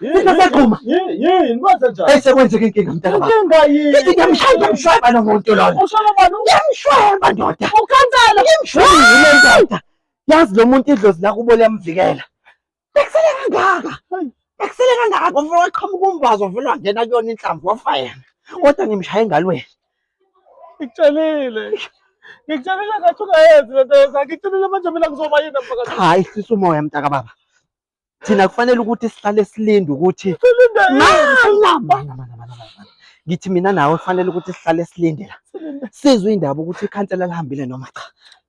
Ngisagquma. Yini kwenze njani? Bese kwenzeka inkinga mntana baba. Inkinga yini? Ngithi ngiyamshaya ngiyamshweba lo muntu lona. Ushona bani? Ngiyamshweba ndoda. Ukhansela. Ngiyamshweba ndoda. Yazi lo muntu idlozi lakubo liyamvikela. Bekusele kangaka. Bekusele kangaka ngoba waqhamuka umbazo vele wangena kuyona inhlamvu wafa yena. Kodwa ngimshaye engalweni. Ngikutshelile. Ngikutshelile ngathi ungayenzi lento yenza. Ngikutshelile manje mina kuzoba yini mfakazi. Cha, ihlisa umoya mntaka baba. Thina kufanele ukuthi sihlale silinde ukuthi Silinde yini? Mana, mana, mana, mana, mana. Ngithi mina nawe kufanele ukuthi sihlale silinde la. Sizwe indaba ukuthi ikhansela lihambile noma cha.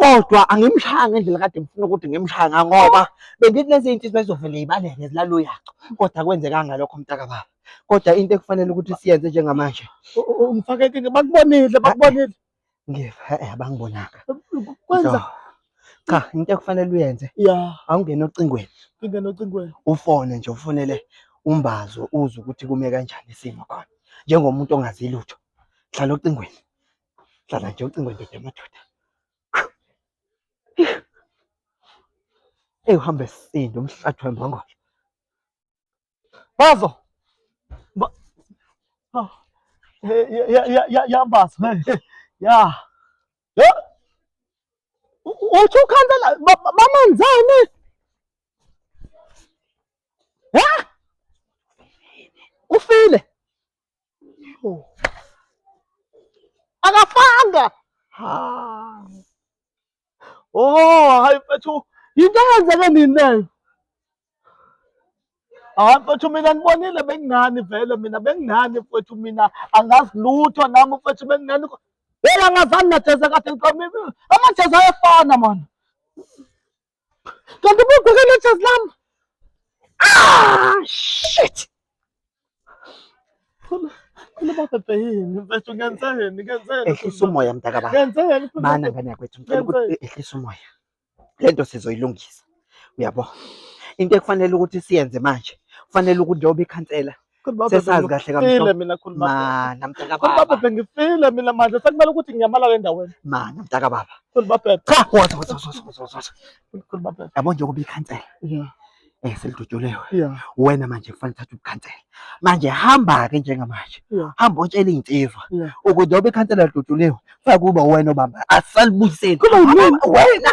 kodwa angimshaya ngendlela kade ngifuna ukuthi ngimshaya ngoba bengithi lezi iy'nsizwa bezovele y'baleke zilala uyaco kodwa kwenzekanga lokho mntaka baba kodwa into ekufanele ukuthi siyenze njengamanje ungifake enkingeni bakubonile bakubonile ngiva e-e abangibonanga kwenza cha into ekufanele uyenze ya awungene ocingweni ingene ocingweni ufone nje ufonele umbazo uzwe ukuthi kume kanjani isimo khona njengomuntu ongazi lutho hlala ocingweni Hlala nje ucingo ndoda yamadoda. Eyi uhambe sinde umhlathi wembongolo. Bazo. Ba oh. Ya ya ya ya bazo. Ya. Ya. Uthi ukhansela bamanzane. Ha? Ufile. akafanga hayi oh hayi mfethu yinto eyenzeke nini leyo hayi mfethu mina nibonile bengingani vele mina bengingani mfethu mina angazi lutho nami mfethu bengingani Yena ngazani najeza kade ngiqomile. Amajeza ayefana manje. Kanti ubugweke nejazi lami. Ah shit. Khona babhebhe yini mfethu ngenzeni ngenzeni. Ehlisa umoya mntaka baba. Ngenzeni. Mana ngane yakwethu ngicela ukuthi ehlisa umoya. Lento sizoyilungisa. Uyabo? Into ekufanele ukuthi siyenze manje, kufanele ukuthi njengoba ikhansela sesazi kahle kamhlophe mina khuluma ma namtaka baba khuluma baba ngifile mina manje sekumele ukuthi ngiyamala le ndaweni ma namtaka baba khuluma baba cha wathi wathi wathi wathi khuluma baba yabo nje kuba ikhansela yeah eh selidutyulewe yeah wena manje kufanele uthathe ubukhansela manje hamba ke njengamanje hamba utshela izinsizwa ukuthi njengoba ikhansela lidutyulewe kufanele kuba wena obamba asalibuyiseni wena